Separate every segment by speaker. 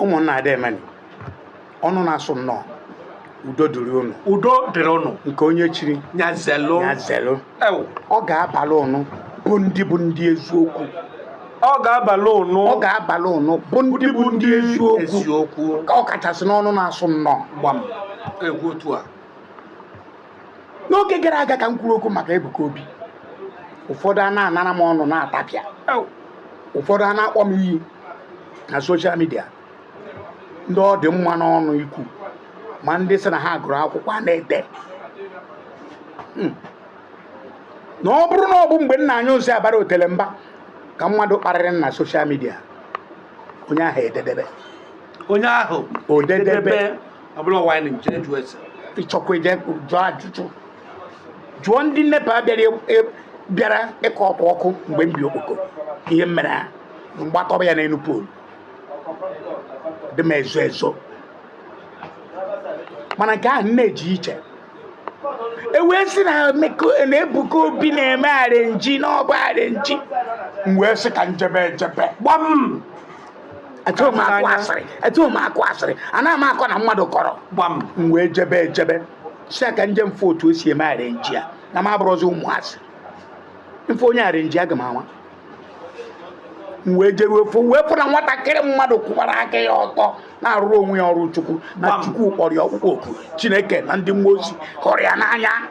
Speaker 1: ụmụnna deemenụ ọnụ na-asụ nnọọ udo dịrị ụnụ udo dịrị ụnụ nke onye chiri nya
Speaker 2: zelu nya
Speaker 1: zelu ọ ga-abalị ụnụ bụ ndị bụ ndị eziokwu
Speaker 2: ọ ga-abalị ụnụ ọ ga-abalị
Speaker 1: ụnụ bụ ndị bụ ndị eziokwu ọ kachasị n'ọnụ na-asụ nnọọ gbam
Speaker 2: egwu otu a n'oge
Speaker 1: gara aga ka m kwuru okwu maka Ebuka Obi ụfọdụ a na-anara m ọnụ na-atapịa ụfọdụ a na-akpọ m iyi na soshal midia ndị ọ dị mma n'ọnụ ikwu ma ndị sị na ha gụrụ akwụkwọ a na-ede hmm. na ọ bụrụ na ọ bụ mgbe nna anyị ozi abara otele mba ka mmadụ kparịrị na soshal midia onye ahụ ededebe onye ahụ odedebe ọ bụla ọwa anyị na-ejere jụọ ese ị chọkwa ije jụọ ajụjụ jụọ ndị NEPA bịara e- e- bịara ikotu ọkụ mgbe m bi Okpoko ihe m mere ha m gbatọba ya n'elu poolu dị m ezo ezo mana nke ahụ nne ji iche e wee sị na Emeka- na Ebuka Obi na-eme arenji na ọ bụ arenji m wee sị ka m jebe ejebe gbam adịrọ m akụ asịrị adịrọ m akụ asịrị anaghị m akọ na mmadụ kọrọ gbam m
Speaker 2: wee jebe
Speaker 1: ejebe sị ka m je m fụ otu o si eme arenji ya na m abụrọzi ụmụazị m fụ onye arenji aga m ama m wee jeruo fụ wee fụ na nwatakịrị mmadụ kwụbara aka ya ọtọ na-arụrụ onwe ya ọrụ Chukwu na Chukwu kpọrọ ya ọkpụkpọ oku Chineke na ndị mmụọ ozi hụrụ ya n'anya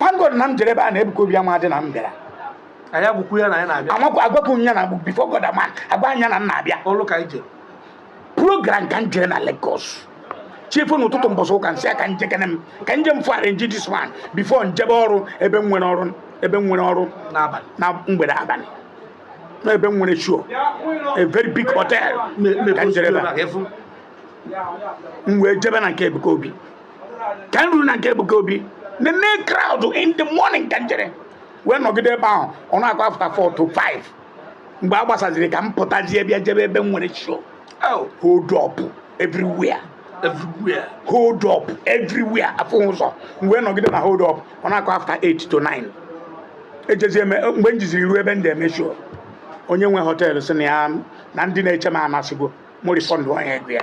Speaker 1: upon God na m jere ebe a na Ebuka Obi amadị na m bịara anyị agwakwu ya na anyị na-abịa amakwa agwakwu m ya na bụ bifo God ama agwa anya na m na-abịa ọrụ ka anyị jere program ka m jere na Lagos chi fo n'ụtụtụ mbọsị ụka m sị ka m jekene m ka m je m fụ arenji dis man bifo m jebe ọrụ ebe m nwere ọrụ ebe m nwere ọrụ n'abalị na mgbede abalị na ebe m nwere show a very big hotel ka m jere ebe a. m wee jebe na nke Ebuka Obi ka m ruru na nke Ebuka Obi nene crowd in the morning ka m jere wee nọgide ebe ahụ ọ na-akụ afta 4 to 5 mgbe a gbasaziri ka m pụtazie bịa jebe ebe m nwere show oh. hold up everywhere everywhere hold up everywhere afụ ụzọ m wee nọgide na hold up ọ na-akụ after 8 to 9 ejezie mgbe m jiziri ruo ebe m na-eme show onye nwe họteelụ sị na ya na ndị na-eche m anasịgo m refund onye ego ya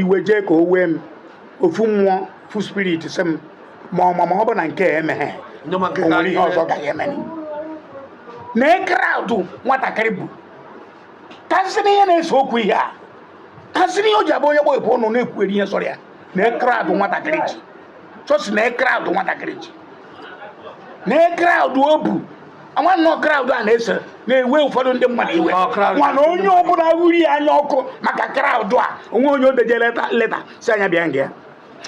Speaker 1: iwe jee ka o wee m ofu mmụọ ofu spirit sị m ma ọ ma ma ọ bụ na nke a emeghe ndị ma nke o ka nwere ihe
Speaker 2: anyị ọzọ gaghị eme
Speaker 1: na kraụdụ nwatakịrị bu kasịrị ihe na-ese okwu ihe a kasịrị ihe o ji abụ onye gbọ ebu ọnụ na-ekwugheri ihe sọrọ ya na kraụdụ nwatakịrị ji chọsi na kraụdụ nwatakịrị ji na crowd o bu nwanne crowd a na-eso na-ewe ụfọdụ ndị mmadụ iwe mana onye ọbụla wuri ya anya ọkụ maka crowd a o nwee onye o dejere leta sị ya nya bịa nga ya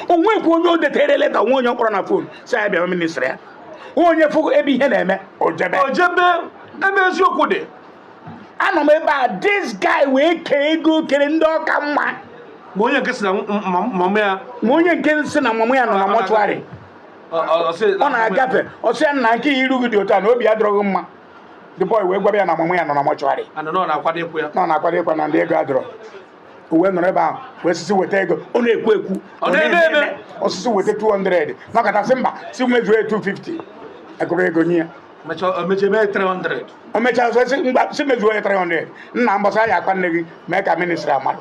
Speaker 1: o nweekwa onye o detere leta o nwee onye ọ kpọrọ na fon sị ya nya bịa ministri ya onye fụ ebe ihe na-eme o jebe
Speaker 2: ebe eziokwu dị anọ
Speaker 1: m ebe a this guy wee kee ego kere ndị ọ ka mma ma onye nke si na
Speaker 2: mama ya ma onye nke si na
Speaker 1: mama ya nọ na mọchụarị ọ na-agafe ọ sị ya nna kee ihe iru gị dị otu a na obi adịrọ gị mma the boy wee gwara ya na mama ya nọ na mọchụarị
Speaker 2: na ọ na-akwado ịkwa na ndị ego
Speaker 1: adịrọ o wee nọrọ ebe ahụ wee sị si weta ego ọ na-ekwu ekwu ọ sị si weta 200 nọkata sị mba si mezuo 250 a gụrụ ego nye ya o mechaa si mezuo ya 300 nna mbọsị a ya-akwa nne gị mee ka ministri a malụ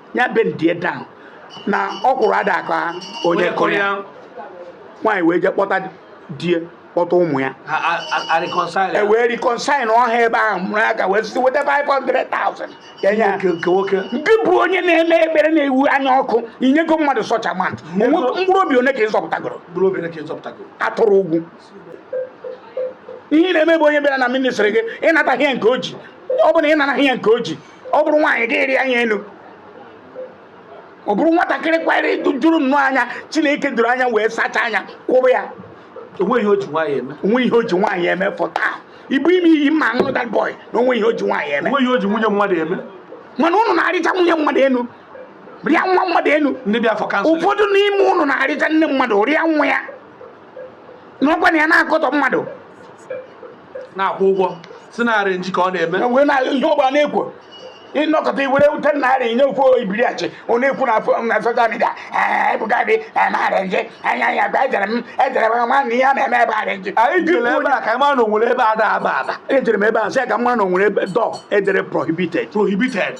Speaker 1: ya bend ya down na ọkwụrụ ada aka onye kụrụ ya nwaanyị wee jee kpọta di ya kpọta ụmụ ya e wee reconcile na ọha ebe ahụ mụrụ aka wee site weta 500,000 e nye nke nwoke nke bụ onye na-eme ekpere na-ewu anya ọkụ i nyego mmadụ such amount mkpụrụ obi one ka ị zọpụtagoro atụrụ ugwu ihe na-eme bụ onye bịara na ministri gị ị nata ihe nke o ji ọ bụ na ị nara ihe nke o ji ọ bụrụ nwaanyị gị rịa ya enu ọ bụrụ nwatakịrị kwara juru nnọọ anya chineke doro anya wee sachaa anya kpụọ ya o nwee ihe o ji
Speaker 2: nwaanyị eme o nwee ihe o ji
Speaker 1: nwaanyị eme fọta i bunye m iyi m aṅụọ that boy na o nwee ihe o ji nwaanyị eme o nwee ihe o ji nwunye mmadụ
Speaker 2: eme mana ụnụ
Speaker 1: na-arịcha nwunye mmadụ enu rịa nwa mmadụ enu ndị bịara for counsel ụfọdụ n'ime ụnụ na-arịcha nne mmadụ rịa nwa ya nọkwa na ya na-akọtọ mmadụ
Speaker 2: na-akwụ ụgwọ si na arenji ka ọ na-eme wee na ihe ọ
Speaker 1: gbara na-ekwu ị nọkata i were 10 naira nye ofeke ibiriachi ọ na-ekwu na afọ- na social media Ebuka dị arenji anya ya gwa ejere m ejere m ma na ihe a na-eme ebe arenji anyị jere ebe a ka anyị
Speaker 2: mara na o nwere ebe ada aba aba ejere m ebe a sị ya ka m
Speaker 1: mara na o nwere ebe door e dere prohibited prohibited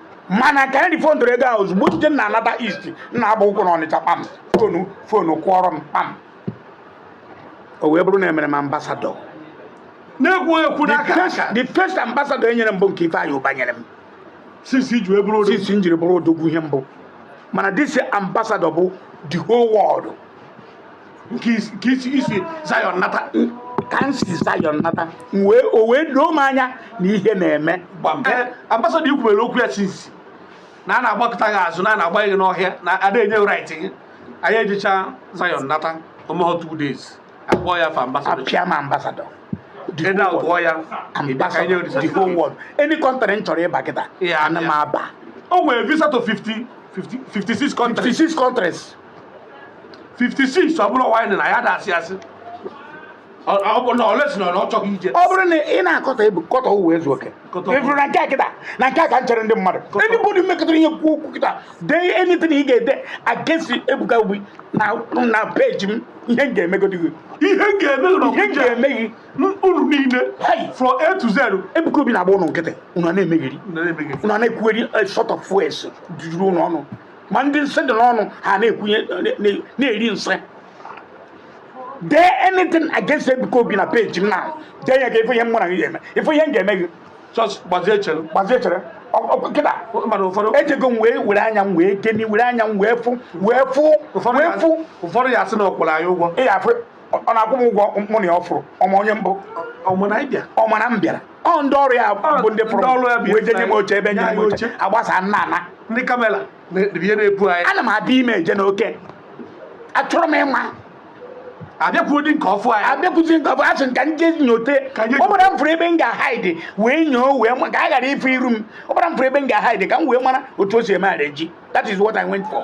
Speaker 1: mana ka anyị rifondoro ego ahụ ozugbo jide na-anata east m na-agba ụkwụ na ọnịcha kpam fonu fonu kụọrọ m kpam o wee bụrụ na e mere m
Speaker 2: ambassador na-ekwu ekwu n'aka aka the first
Speaker 1: ambassador e nyere m bụ nke Ifeanyi Uba nyere m since m
Speaker 2: ji wee bụrụ odogwu since m
Speaker 1: jiri bụrụ odogwu ihe m bụ mana this ambassador bụ the whole world nke isi
Speaker 2: isi
Speaker 1: Zion nata ka m si Zion nata wee o wee doo m anya na ihe na-eme eh,
Speaker 2: ambassador i kwubere okwu ya since na a na-agbakọta gị azụ na a na-agba gị n'ọhịa na ada enye right gị anyị ejecha Zion nata o meho two days a kpọọ ya fa ambassador a pịa m
Speaker 1: ambassador
Speaker 2: the whole world
Speaker 1: ambassador the whole world any country m chọrọ ịba kịta ana m aba o nwere visa
Speaker 2: to 50 56 countries 56 countries 56 ọ bụrụ wine na ya dasị asị ọ bụ na ọ lesi na ọ chọghị ije ọ bụrụ na ị na-akọta
Speaker 1: ebu kọta Ụwaezuoke Kọta ụwa. ị fụrụ na nke a kịta na nke a ka m chere ndị mmadụ anybody mekọtara ihe kwuo okwu kịta dee anything ị ga-ede against Ebuka Obi na na peji m ihe m ga-emegodi gị ihe m ga-eme na ihe m ga-eme
Speaker 2: gị unu niile Hey! from a to z Ebuka Obi na-agba ụnụ
Speaker 1: nkịtị ụnụ a na-emegheri na-emeghị ụnụ a na-ekwugheri all sort of fools juru ụnụ ọnụ ma ndị nsị dị n'ọnụ ha na-ekwunye na-eri nsị dee anything against Ebuka Obi na peji m na dee ya ka ị fụ ihe m mara gị ga-eme ị fụ ihe m ga-eme gị gbazie
Speaker 2: chere gbazie chere
Speaker 1: kịta ejego m wee were anya m wee gịnị were anya m wee fụ wee fụ wee fụ
Speaker 2: ụfọdụ ya a sị na ọ kwụrụ anyị ụgwọ
Speaker 1: ọ na-akwụ m ụgwọ mụ na ya ọ fụrụ ọ ma onye m bụ ọ ma na ị bịa ọ ma na m bịara ọ ndị ọrụ ya bụ ndị ndị ọrụ ya fụrụ bụ wee jee nye m oche ebe nye nye m oche oche. agbasa nna ana ndị kamera
Speaker 2: na-ebie na-ebu anyị ana m abịa ime eje
Speaker 1: n'oke achọrọ m
Speaker 2: ịma abịakwuo dị nke ọfụ anyị abịakwụzi nke ọfụ asị m
Speaker 1: ka m je nyote Ka m je- ọ bụrụ m fụrụ ebe m ga-ahaidi wee nyoo wee ma ka a ghara ịfụ iru m ọ bụrụ m fụrụ ebe m ga-ahaidi ka m wee mara otu o si eme arrangee that is what i went for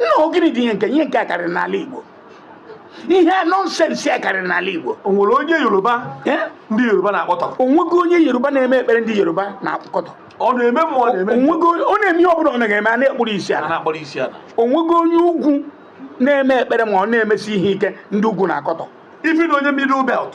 Speaker 1: nna ọ gịnị dị ihe nke ihe nke a karịrị n'ala Igbo ihe nonsense a karịrị n'ala Igbo o nwere onye yoruba
Speaker 2: Eh? ndị yoruba na-akọtọ o nwego onye Yoruba
Speaker 1: na-eme ekpere ndị Yoruba na-akọtọ ọ na-eme ma ọ
Speaker 2: na-eme ndị o nwego onye- ọ na-eme ihe
Speaker 1: ọbụla ọ na-eme a na-ekpuru isi ala na-akpọrọ isi ala o nwego onye ugwu na-eme ekpere ma ọ na-emesi ihe ike ndị ugwu na-akọtọ ị fụ na onye middle
Speaker 2: belt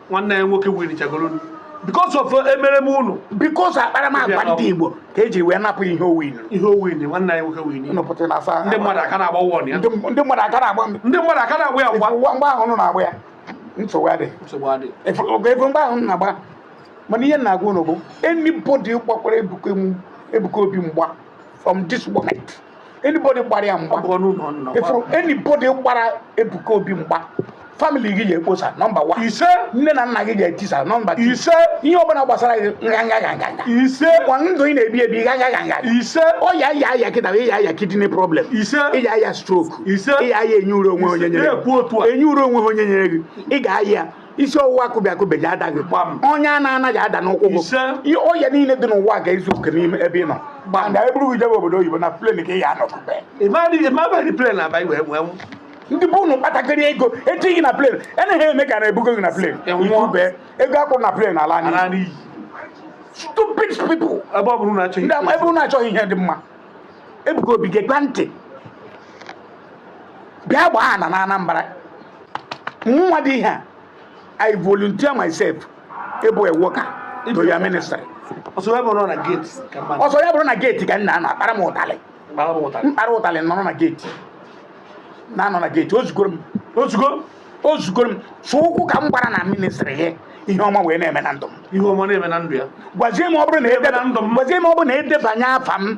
Speaker 1: nwanne ya
Speaker 2: nwoke winchagoro because of uh, emereme unu because
Speaker 1: akparamagwa ndị Igbo ka e ji wee napụ ihe o win ihe o win nwanne anyị
Speaker 2: nwoke win ndị mmadụ aka
Speaker 1: na-agba won
Speaker 2: ya ndị mmadụ aka na-agba
Speaker 1: ndị mmadụ aka na-agba ya ngwa mgbe ahụ unu na-agba ya nsogbu adịghị efe mgbe ahụ unu na-agba mana ihe m na-agwa unu bụ anybody gbakwara Ebuka Obi mgba from this moment anybody gbara ya mgba anybody gbara Ebuka Obi mgba family gị ga-ekposa nọmba one ise nne na nna
Speaker 2: gị
Speaker 1: ga-etisa nọmba two ise ihe ọbụla
Speaker 2: gbasara
Speaker 1: gị ngana ngana ise
Speaker 2: kwa ndụ ị
Speaker 1: na-ebi ebi nganga nganga ise ọya ị
Speaker 2: ya-aya
Speaker 1: kịta ị ya-aya kidney problem ise ị ya-aya
Speaker 2: stroke
Speaker 1: ise ị ya-aya enyi
Speaker 2: ure o
Speaker 1: nwee onye nyere enyi ure o nwee onye nyere gị ị ga-aya isi ọwụwa akụbi akụbi ji adaghị ọnya na-anaghị ala n'ụkwụ bụ ọya niile dị n'ụwa ga-ezuoke n'ime ebe ị nọ gbanda e buru gị jebe obodo oyibo na plane ka ị ya anọ kubie ndị bụ ụnụ kpatakịrị ego e tinye na plane enaghị eme ka na-ebugo gị na plane ị kubie ego a kwụ na plane ala n'iyi stupid people ebe ọ bụrụ na achọghị ebe ụnụ achọghị ihe dị mma Ebuka Obi gekwa ntị bịa gbaa ana na Anambra nwa dị ihe a i volunteer myself ịbụ a worker to your ministry
Speaker 2: ọ sọ ya bụrụ
Speaker 1: na geeti ka m na-anọ akpara m ụtalị m kpara ụtalị nọrọ na geeti na-anọ na geeti o zugoro m o zugo o zugoro m sọ ụkwụ ka m gbara na ministri gị ihe ọma wee na-eme na ndụ m ya gwazie m
Speaker 2: ọ bụrụ
Speaker 1: na ọ bụrụ na e debanye afa m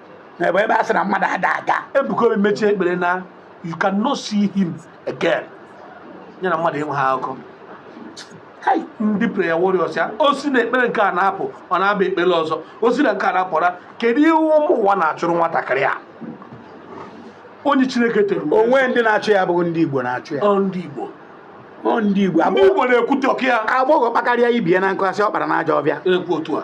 Speaker 1: na ebe ebe a sị na mmadụ ada aga Ebuka Obi mechie
Speaker 2: ekpere na you cannot see him again ya na mmadụ enweghị akụkọ Hai, ndị prayer warriors ya o si na ekpere nke a na-apụ ọ na-aba ekpere ọzọ o si na nke a na-apụra kedu ihe ụmụ ụwa na-achụrụ nwatakịrị a onye chineke tere uwe onwe ndị na-achụ
Speaker 1: ya abụghị ndị igbo na-achụ ya ọ ndị igbo
Speaker 2: ọ ndị igbo
Speaker 1: ndị igbo na-ekwute okwu ya
Speaker 2: agbọghọ kpakarịa ibe
Speaker 1: ya na nkụ a sị ọ kpara n'ajọ ọfịa ekwu otu a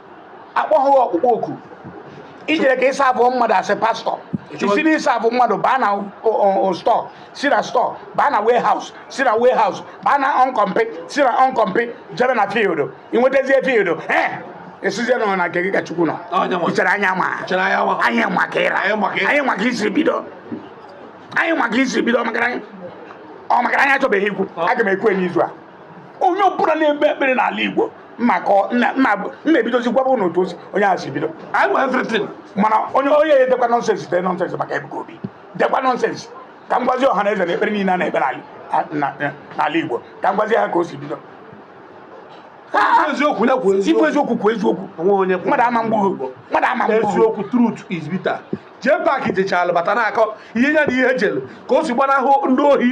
Speaker 1: a kpọghị ọkpụkpọ oku i jere ka ịsa abụọ mmadụ a sị pastọ i si na ịsa abụ mmadụ baa na stọ si na stọ baa na warehouse si na warehouse baa na ọnkọmpi si na ọnkọmpi jebe na field i nwetazie field ee ị sịzie na ọ na nke gị ka chukwu nọ i chere anyị ama anyị ma ka ị ra anyị ma ka i si bido ọ maka na anyị achọbeghị ikwu aga m ekwu n'izu a onye ọbụla na-ekpe ekpere n'ala Igbo m ga-ebidozi gwaba unu otu onye ahụ si bido anyị nwere everything mana onye onye ya-edekwa nọnsensị dee nọnsensị maka Ebuka Obi dekwa nọnsensị ka m gwazi ọha na eze na ekpere niile a na-ekpe n'ala Igbo ka m gwazi ha ka o si bido eziokwu na kwuo eziokwu eziokwu kwuo eziokwu mmadụ ama egbu gị mmadụ ama egbu gị eziokwu
Speaker 2: truth is bitter jee paaki jechalụ bata na-akọ ihe ya na ihe o jelu ka o si gbanahụ ndị ohi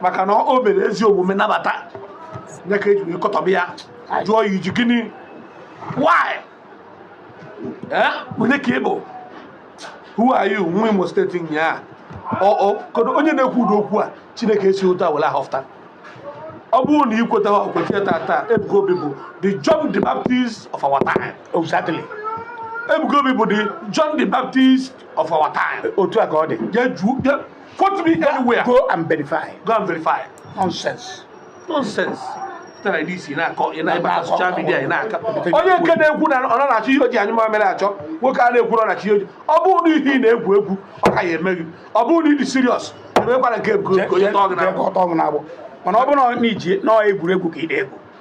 Speaker 1: maka
Speaker 2: na o mere ezi omume nabata ya ka e ji wee kọtọba ya jụọ ya i ji gịnị why eh onye ka ị bụ who are you nwa imo steeti nyaa ọ ọ kedu onye na-ekwu ụdị okwu a chineke esi otu a were ahọfụta ọ bụrụ na i kweta ha o kweta ya tata ebuka obi bụ the john the baptist of our time Exactly.
Speaker 1: ebuka
Speaker 2: obi bụ the john the baptist of our time Otu a ka ọ dị. ya
Speaker 1: ju ya Quote
Speaker 2: me anywhere. Go and
Speaker 1: verify. Go and verify.
Speaker 2: Nonsense. Nonsense. Tara ndị isi na-akọ ị na-ebe social media ị na-akọ. Onye nke na-ekwu na ọ na-achọ ihe o ji anyị mamịrị achọ nwoke a na-ekwu na ọ na-achọ ihe oji. Ọ bụrụ na ihe ị na-egwu egwu ọ ka ya emeghị. Ọ bụrụ na ị dị serious emekwara nke onye tọọ gị n'agbụ.
Speaker 1: Mana ọ bụrụ na i ji nọọ egwuregwu ka ị na-egwu